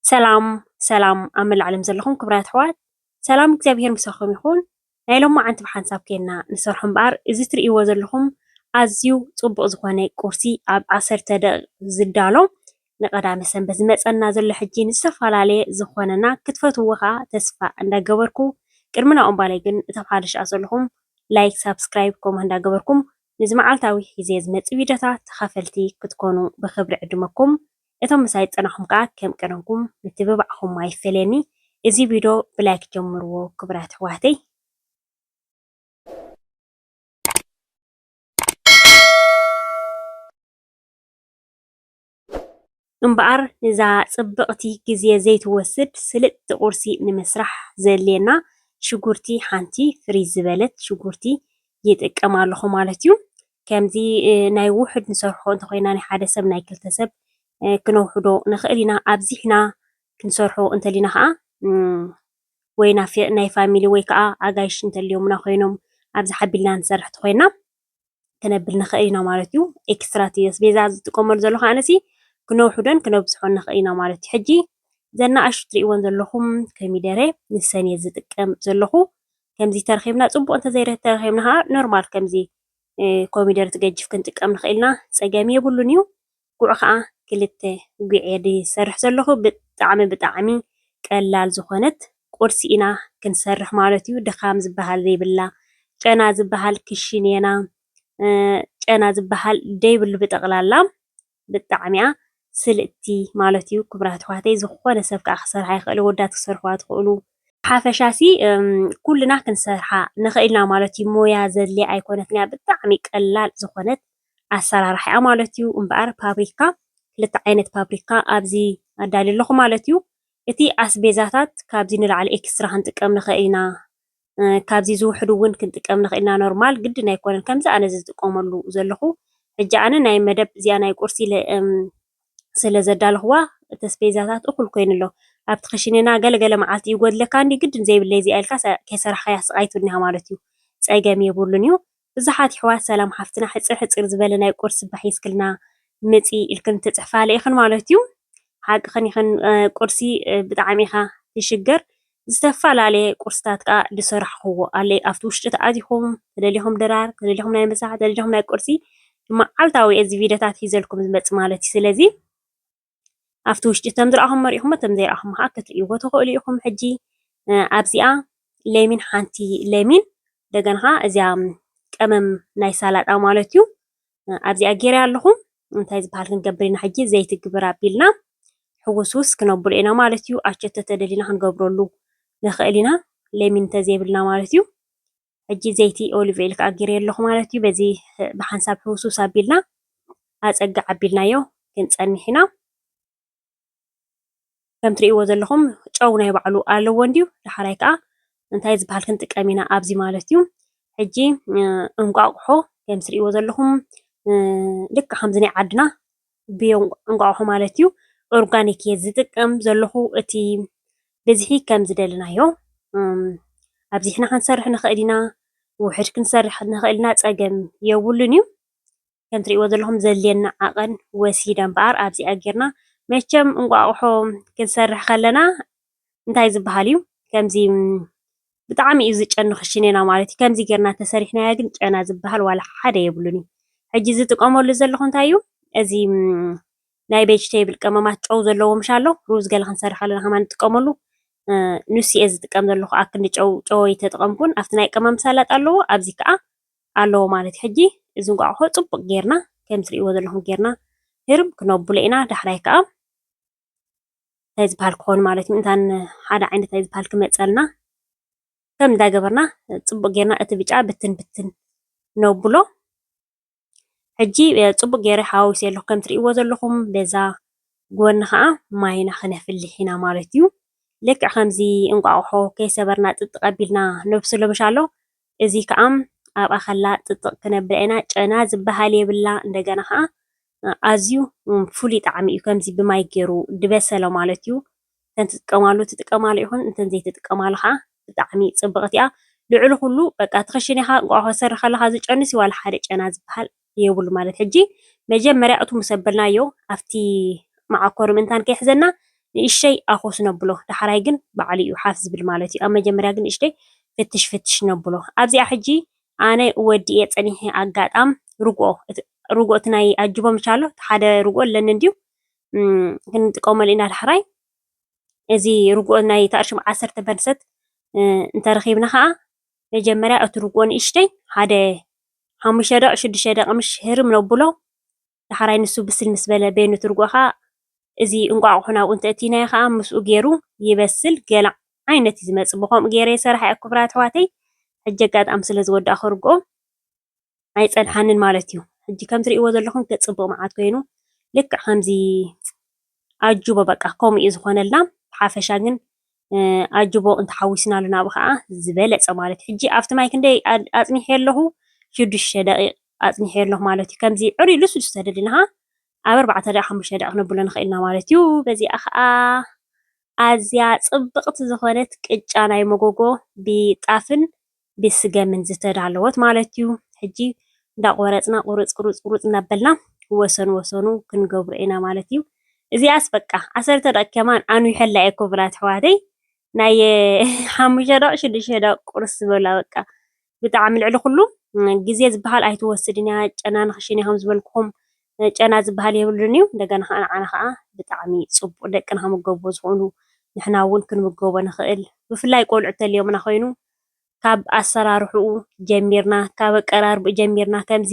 ሰላም ሰላም ኣብ መላእ ዓለም ዘለኹም ክብራት ኣሕዋት ሰላም እግዚኣብሄር ምሳኹም ይኹን። ናይ ሎማዓንቲ ብሓንሳብ ኴንና ንሰርሖ እምበኣር እዚ ትርእይዎ ዘለኹም ኣዝዩ ጽቡቕ ዝኾነ ቁርሲ ኣብ ዓሰርተ ደቂቕ ዝዳሎ ንቀዳመ ሰንበት ዝመጸና ዘሎ ሕጂ ንዝተፈላለየ ዝኾነና ክትፈትውዎ ከዓ ተስፋ እንዳገበርኩ ቅድሚ ናብኡ እምባለይ ግን እቶም ሓደሽ ኣኣ ዘለኹም ላይክ ሳብስክራይብ ከምኡ እንዳገበርኩም ንዚ መዓልታዊ ሒዘ ዝመጽእ ቪድዮታት ተኻፈልቲ ክትኮኑ ብኽብሪ ዕድመኩም። እቶም ምሳይ ዝጸናሕኩም ከኣ ከም ቀደምኩም ምትብባዕኩም ኣይፈለየኒ እዚ ቪዶ ብላይክ ጀምርዎ ክቡራት ኣሕዋተይ። እምበኣር እዛ ጽብቕቲ ግዜ ዘይትወስድ ስልጥቲ ቁርሲ ንምስራሕ ዘድልየና ሽጉርቲ ሓንቲ ፍርይ ዝበለት ሽጉርቲ ይጥቀም ኣለኹ ማለት እዩ። ከምዚ ናይ ውሑድ ንሰርሖ እንተኾይና ናይ ሓደ ሰብ ናይ ክልተ ሰብ ክነውሕዶ ንኽእል ኢና። ኣብዚሕና ክንሰርሖ እንተሊና ከዓ ወይ ናይ ፋሚሊ ወይ ከዓ ኣጋይሽ እንተልዮምና ኮይኖም ኣብዚ ሓቢልና ንሰርሕ ተኾይና ክነብል ንኽእል ኢና ማለት እዩ። ኤክስትራ እቲ ኣስቤዛ ዝጥቀመሉ ዘሎ ከዓ ነሲ ክነውሕዶን ክነብዝሖን ንኽእል ኢና ማለት እዩ። ሕጂ ዘና ኣሹ ትርእይዎን ዘለኹም ኮሚደረ ንሰን እየ ዝጥቀም ዘለኹ። ከምዚ ተረኺብና ፅቡቕ እንተዘይተረኺብና ከዓ ኖርማል ከምዚ ኮሚደረ ትገጅፍ ክንጥቀም ንኽእል ኢና ፀገም የብሉን እዩ። ጉዕ ከዓ ክልተ ጉዕ እየ ዝሰርሕ ዘለኹ ብጣዕሚ ብጣዕሚ ቀላል ዝኾነት ቁርሲ ኢና ክንሰርሕ ማለት እዩ። ድኻም ዝበሃል ዘይብላ ጨና ዝበሃል ክሽኔና ጨና ዝበሃል ዘይብሉ ብጠቕላላ ብጣዕሚያ ስልጥቲ ማለት እዩ ክብራት ኣሕዋተይ ዝኮነ ሰብ ካኣ ክሰርሓ ይክእል ኣወዳት ክትሰርሕዋ ትክእሉ። ብሓፈሻሲ ኩልና ክንሰርሓ ንክእልና ማለት እዩ ሞያ ዘድልያ ኣይኮነትን እያ ብጣዕሚ ቀላል ዝኮነት ኣሰራርሓ እያ ማለት እዩ እምበኣር ፓፕሪካ ክልተ ዓይነት ፓፕሪካ ኣብዚ ኣዳልየ ኣለኩ ማለት እዩ እቲ ኣስቤዛታት ካብዚ ንላዕሊ ኤክስትራ ክንጥቀም ንክእል ኢና ካብዚ ዝውሕዱ እውን ክንጥቀም ንኽእል ኢና ኖርማል ግድን ኣይኮነን ከምዚ ኣነ ዝጥቀመሉ ዘለኹ ሕጂ ኣነ ናይ መደብ እዚኣ ናይ ቁርሲ ስለ ዘዳለኹዋ እቲ ኣስቤዛታት እኹል ኮይኑ ኣሎ ኣብቲ ክሽንና ገለገለ መዓልቲ ይጎድለካ እንዲ ግድን ዘይብለይ እዚኣ ኢልካ ከይሰራሕካያ ስቓይ ትብልኒኻ ማለት እዩ ፀገም የብሉን እዩ ብዙሓት የሕዋት ሰላም ሓፍትና ሕጽር ሕጽር ዝበለ ናይ ቁርሲ ባህ የስክልና ምጺ ኢልክን ትጽሕፋለ ኢክን ማለት እዩ ሓቅክን ኢክን ቁርሲ ብጣዕሚ ኢካ ትሽገር ዝተፈላለየ ቁርስታት ከኣ ዝሰራሕክዎ ኣለ ኣብቲ ውሽጢ ተኣቲኩም ተደሊኩም ድራር ተደሊኩም ናይ ምሳሕ ተደሊኩም ናይ ቁርሲ መዓልታዊ እዚ ቪድዮታት ሒዘልኩም ዝመጽእ ማለት እዩ ስለዚ ኣብቲ ውሽጢ ተም ዝረኣኹሞ ርኢኹሞ ተም ዘይረኣኹሞ ኸኣ ክትርእይዎ ትኽእሉ ኢኹም። ሕጂ ኣብዚኣ ለሚን ሓንቲ ለሚን እንደገና ኸኣ እዚኣ ቀመም ናይ ሳላጣ ማለት እዩ ኣብዚኣ ጌረ ኣለኹ። እንታይ ዝበሃል ክንገብር ኢና ሕጂ ዘይቲ ግብር ኣቢልና ሕውስውስ ክነብሎ ኢና ማለት እዩ። ኣቸቶ ተደሊና ክንገብረሉ ንኽእል ኢና ለሚን እንተዘይብልና ማለት እዩ። ሕጂ ዘይቲ ኦሊቭ ኦይል ከዓ ጌረዮ ኣለኹ ማለት እዩ። በዚ ብሓንሳብ ህውስውስ ኣቢልና ኣፀጋ ዓቢልናዮ ክንፀንሕ ኢና። ከም ትርእይዎ ዘለኹም ጨው ናይ ባዕሉ ኣለዎ እንድዩ ዳሓራይ ከዓ እንታይ ዝበሃል ክንጥቀም ኢና ኣብዚ ማለት እዩ። ሕጂ እንቋቑሖ ከም ትርእይዎ ዘለኹም ልክዕ ከምዚ ናይ ዓድና ብዮ እንቋቑሖ ማለት እዩ ኦርጋኒክ እየ ዝጥቀም ዘለኹ እቲ ብዝሒ ከም ዝደለናዮ ኣብዚሕና ክንሰርሕ ንኽእል ኢና፣ ውሕድ ክንሰርሕ ንኽእል ኢና ፀገም የብሉን እዩ። ከም ትሪእዎ ዘለኹም ዘድልየና ዓቐን ወሲደ እምበኣር ኣብዚኣ ጌርና መቸም እንቋቑሖ ክንሰርሕ ከለና እንታይ ዝባሃል እዩ ከምዚ ብጣዕሚ እዩ ዝጨኑ ክሽኔና ማለት እዩ ከምዚ ጌርና ተሰሪሕናዮ ግን ጨና ዝባሃል ዋላ ሓደ የብሉን እዩ ሕጂ ዝጥቀመሉ ዘለኹ እንታይ እዩ እዚ ናይ ቬጅቴብል ቀመማት ጨው ዘለዎ ምሽ ኣሎ ሩዝ ገለ ክንሰርሕ ከለና ከማ ንጥቀመሉ ንሱ እየ ዝጥቀም ዘለኹ ኣክንዲ ጨው ጨው ኣይተጠቐምኩን ኣብቲ ናይ ቀመም ሳላጥ ኣለዎ ኣብዚ ከዓ ኣለዎ ማለት ሕጂ እዚ እንቋቑሖ ፅቡቕ ጌርና ከም ትሪእዎ ዘለኹም ጌርና ህርም ክነብሎ ኢና ዳሕራይ ከዓ እንታይ ዝበሃል ክኾን ማለት እዩ እንታን ሓደ ዓይነት ናይ ዝበሃል ክመጸልና ከም እንታይ ገበርና ጽቡቕ ጌርና እቲ ብጫ ብትን ብትን ነብሎ። ሕጂ ጽቡቕ ጌረ ሓዋዊሰዮ ኣለኹ ከም ትርእይዎ ዘለኹም በዛ ጎኒ ኸኣ ማይና ክነፍልሕ ኢና ማለት እዩ። ልክዕ ከምዚ እንቋቑሖ ከይሰበርና ጥጥቕ ኣቢልና ነብስሎ ምሻሎ እዚ ከኣ ኣብ ኣኸላ ጥጥቕ ክነብላ ኢና ጨና ዝብሃል የብላ እንደገና ከኣ ኣዝዩ ፍሉይ ጣዕሚ እዩ ከምዚ ብማይ ጌሩ ድበሰለ ማለት እዩ እንተ ትጥቀማሉ ትጥቀማሉ ኢኹን እንተ ዘይትጥቀማሉ ከኣ ብጣዕሚ ጽብቕቲ እያ ልዕሊ ኩሉ በቃ ትኽሽኒኻ እንቋቑሖ ትሰርሒ ከለኻ ዝጨንስ እዩ ዋላ ሓደ ጨና ዝብሃል የብሉ ማለት ሕጂ መጀመርያ እቱ ምስ ኣበልናዮ ኣብቲ መዓኮሪ ምእንታን ከይሕዘና ንእሽተይ ኣኾስ ነብሎ ዳሕራይ ግን ባዕሉ እዩ ሓፍ ዝብል ማለት እዩ ኣብ መጀመርያ ግን ንእሽተይ ፍትሽ ፍትሽ ነብሎ ኣብዚኣ ሕጂ ኣነ ወዲኤ ጸኒሐ ኣጋጣም ርግኦ ርግኦ እቲ ናይ ኣጅቦ ምች ኣሎ እቲ ሓደ ርግኦ ኣለኒ እንድዩ ክንጥቀመሉ ኢና ዳሕራይ እዚ ርግኦ ናይ ታእርሽም ዓሰርተ በርሰት እንተረኺብና ከዓ መጀመርያ እቲ ርግኦ ንእሽተይ ሓደ ሓሙሽተ ደቂቅ ሽዱሽተ ደቂቅ ምሽ ህርም ነቡሎ ዳሕራይ ንሱ ብስል ምስ በለ በይኑ እቲ ርግኦ ከኣ እዚ እንቋቁሖ ናብኡ እንተ እቲናዮ ከኣ ምስኡ ጌሩ ይበስል ገለ ዓይነት እዩ ዝመጽእ ብከምኡ ጌረ ይሰርሓ እየ ኩቡራት ኣሕዋተይ ሕጂ ኣጋጣሚ ስለ ዝወዳእኩ ርግኦ ኣይጸንሓንን ማለት እዩ። ሕጂ ከም ትርእይዎ ዘለኹም ገጽ ጽቡቕ መዓት ኮይኑ ልክዕ ከምዚ ኣጅቦ በቃ ከምኡ እዩ ዝኾነልና። ብሓፈሻ ግን ኣጅቦ እንተሓዊስናሉ ናብኡ ከዓ ዝበለጸ ማለት እዩ። ሕጂ ኣብቲ ማይ ክንደይ ኣጽኒሐ ኣለኹ? ሽዱሽተ ደቂቕ ኣጽኒሐ ኣለኹ ማለት እዩ። ከምዚ ዕሩይ ልስሉስ ተደሊና ከዓ ኣብ ኣርባዕተ ደቂቕ ሓሙሽተ ደቂቕ ነብሎ ንኽእል ኢና ማለት እዩ። በዚኣ ከዓ ኣዝያ ጽብቕቲ ዝኾነት ቅጫ ናይ መጎጎ ብጣፍን ብስገምን ዝተዳለወት ማለት እዩ። ሕጂ እንዳቆረጽና ቁሩጽ ቁሩጽ ቁሩጽ እንዳበልና ወሰኑ ወሰኑ ክንገብሮ ኢና ማለት እዩ። እዚኣስ በቃ ዓሰርተ ደቕ ከማን ኣንዊሐላ እየ ክብላት ኣሕዋተይ ናይ ሓሙሽተ ደቕ ሽዱሽተ ደቕ ቁርስ ዝበላ በቃ ብጣዕሚ ልዕሊ ኩሉ ግዜ ዝበሃል ኣይትወስድን እያ ጨና ንክሽን እያ ከምዝበልኩም ጨና ዝበሃል የብሉን እዩ እንደገና ከዓ ንዓና ከዓ ብጣዕሚ ፅቡቅ ደቅና ክምገብዎ ዝኽእሉ ንሕና እውን ክንምገቦ ንኽእል ብፍላይ ቆልዑ ተልዮምና ኮይኑ ካብ ኣሰራርሕኡ ጀሚርና ካብ ኣቀራርብኡ ጀሚርና ከምዚ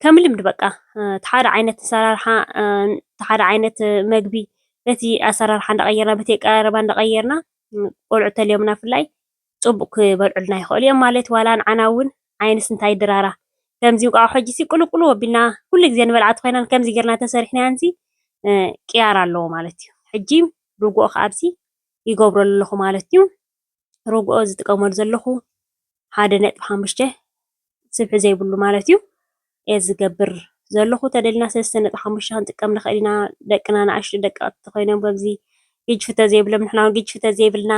ከም ልምዲ በቃ እቲ ሓደ ዓይነት ኣሰራርሓ እቲ ሓደ ዓይነት መግቢ በቲ ኣሰራርሓ እንዳቐየርና በቲ ኣቀራርባ እንዳቐየርና ቆልዑ ተልዮምና ብፍላይ ፅቡቕ ክበልዑልና ይኽእሉ እዮም ማለት እዩ። ዋላ ንዓና እውን ዓይንስ እንታይ ድራራ ከምዚ እንቋቑሖ ሕጂሲ ቅልውቅልው ኣቢልና ኩሉ ግዜ ንበልዓ ተኾይናን ከምዚ ጌርና ተሰሪሕናያንሲ ቅያር ኣለዎ ማለት እዩ። ሕጂ ርግኦ ከኣብዚ ይገብረሉ ኣለኹ ማለት እዩ። ርግኦ ዝጥቀመሉ ዘለኹ ሓደ ነጥቢ ሓሙሽተ ስፍሒ ዘይብሉ ማለት እዩ እየ ዝገብር ዘለኹ ተደልና ሰለስተ ነጥቢ ሓሙሽተ ክንጥቀም ንኽእል ኢና ደቅና ንኣሽቱ ደቀቕቲ ኮይኖም በዚ ግጅፊ ተዘይብሎም ንሕና እውን ግጅፊ ተዘይብልና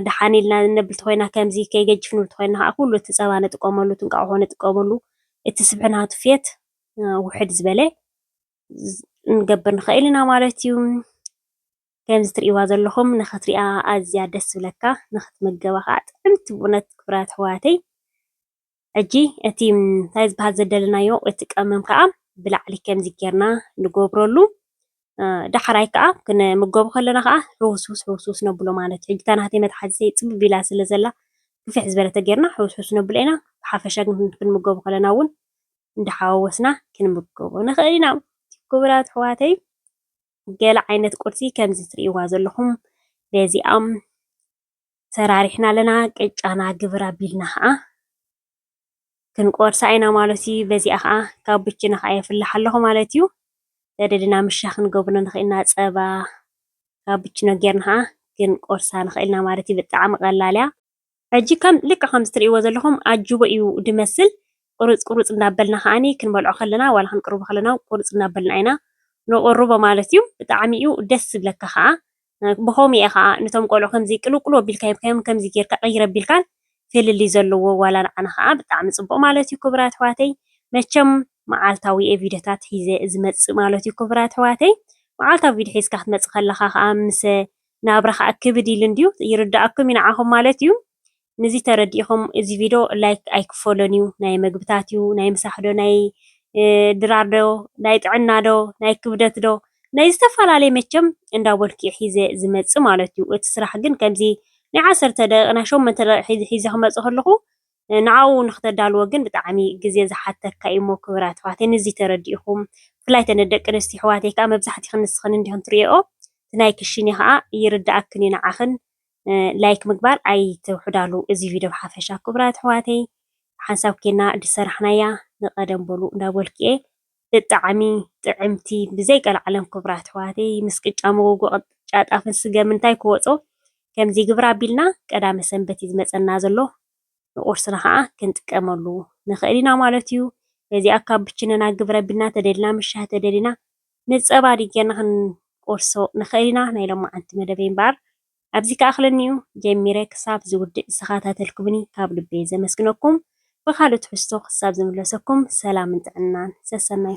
ድሓን ኢልና ነብል ተኮይና ከምዚ ከይገጅፍ ንብል ተኮይና ከዓ ኩሉ እቲ ፀባ ንጥቀመሉ እቲ እንቃቑሖ ንጥቀመሉ እቲ ስብሒ ናቱ ፌት ውሕድ ዝበለ ንገብር ንኽእል ኢና ማለት እዩ ከምዚ ትሪእዋ ዘለኹም ንኽትሪኣ ኣዝያ ደስ ዝብለካ ንኽትምገባ ከዓ ጥዕምቲ ብእውነት ክቡራት ኣሕዋተይ። ሕጂ እቲ እንታይ ዝበሃል ዘደለናዮ እቲ ቀመም ከዓ ብላዕሊ ከምዚ ጌርና ንገብረሉ ዳሕራይ ከዓ ክንምገቡ ከለና ከዓ ሕውስውስ ሕውስውስ ነብሎ ማለት እዩ። ሕጂ እታ ናተይ መትሓዚተይ ፅብብ ኢላ ስለ ዘላ ክፍሕ ዝበለ ተጌርና ሕውስውስ ነብሎ ኢና። ብሓፈሻ ግን ክንምገቡ ከለና እውን እንዳሓዋወስና ክንምገቦ ንኽእል ኢና። ክቡራት ኣሕዋተይ ገለ ዓይነት ቁርሲ ከምዚ ትሪእዋ ዘለኹም በዚኣም ሰራሪሕና ኣለና። ቅጫና ግብር ኣቢልና ኸዓ ክንቆርሳ ኢና ማለት እዩ። በዚኣ ኸዓ ካብ ብችና ኸዓ የፍልሕ ኣለኹ ማለት እዩ። ተደሊና ምሻ ክንገብሮ ንኽእል ኢና ፀባ ካብ ብችኖ ጌርና ኸዓ ክንቆርሳ ንኽእል ኢና ማለት እዩ። ብጣዕሚ ቐላል እያ። ሕጂ ከም ልክዕ ከምዚ ትርእይዎ ዘለኹም ኣጅቦ እዩ ዝመስል ቁሩጽ ቁሩጽ እንዳበልና ከኣኒ ክንበልዖ ከለና ዋላ ክንቅርቦ ከለና ቁሩጽ እንዳበልና ኢና ንቅርቦ ማለት እዩ ብጣዕሚ እዩ ደስ ዝብለካ ከኣ ብኸምኡ እየ ከኣ ነቶም ቆልዑ ከምዚ ቅልውቅልው ኣቢልካ ሂብካዮም ከምዚ ጌርካ ቅይር ኣቢልካን ፍልልይ ዘለዎ ዋላ ንዓና ከኣ ብጣዕሚ ጽቡቅ ማለት እዩ ክቡራት ኣሕዋተይ መቸም መዓልታዊ እየ ቪድዮታት ሒዘ ዝመጽእ ማለት እዩ ክቡራት ኣሕዋተይ መዓልታዊ ቪድዮ ሒዝካ ክትመጽእ ከለኻ ከኣ ምስ ናብራ ከኣ ክብድ ኢሉ እንድዩ ይርደኣኩም ዩ ንዓኹም ማለት ዩ ንዚ ተረዲኢኹም እዚ ቪዶ ላይክ ኣይክፈሎን ዩ ናይ መግብታት ዩ ናይ ምሳሕ ዶ ናይ ድራር ዶ ናይ ጥዕና ዶ ናይ ክብደት ዶ ናይ ዝተፋላለየ መቸም እንዳበልኩ የ ሒዘ ዝመጽእ ማለት ዩ እቲ ስራሕ ግን ከምዚ ናይ ዓሰርተ ደቂቅ ናይ ሸሞንተ ደቂቅ ሒዘ ክመጽእ ከለኹ ንዓኡ ንክተዳልዎ ግን ብጣዕሚ ግዜ ዝሓተካ እዩ እሞ ክብራት ኣሕዋተይ ንዚ ተረዲእኹም ብፍላይ እተን ደቂ ኣንስትዮ ኣሕዋተይ ከኣ መብዛሕቲኽን ንስኽን እንዲኽን ትሪእኦ እቲ ናይ ክሽኔ ከኣ ይርደኣክን እዩ ንዓኽን ላይክ ምግባር ኣይትውሕዳሉ እዚ ቪድዮ ብሓፈሻ ክብራት ኣሕዋተይ ሓንሳብ ኬና ድሰራሕናያ ንቀደም በሉ እንዳበልኩ እየ ብጣዕሚ ጥዕምቲ ብዘይ ቀልዓለም ክብራት ኣሕዋተይ ምስ ቅጫ መጎጎ ቅጫ ጣፍን ስገም እንታይ ክወጾ ከምዚ ግብር ኣቢልና ቀዳመ ሰንበት እዩ ዝመጸና ዘሎ ንቁርስና ከዓ ክንጥቀመሉ ንክእል ኢና ማለት እዩ በዚኣ ካብ ብችነና ግብር ኣቢልና ተደሊና ምስ ሻሂ ተደሊና ምስ ጸባ ድዩ ጌርና ክንቆርሶ ንክእል ኢና ናይ ሎማዓንቲ መደበይ እምበኣር ኣብዚ ክኣኽለኒ'ዩ ጀሚረ ክሳብ ዝውድእ ዝተኸታተልኩምኒ ካብ ልበይ ዘመስግነኩም ብኻልእ ትሕዝቶ ክሳብ ዝምለሰኩም ሰላምን ጥዕናን ሰሰናዩ።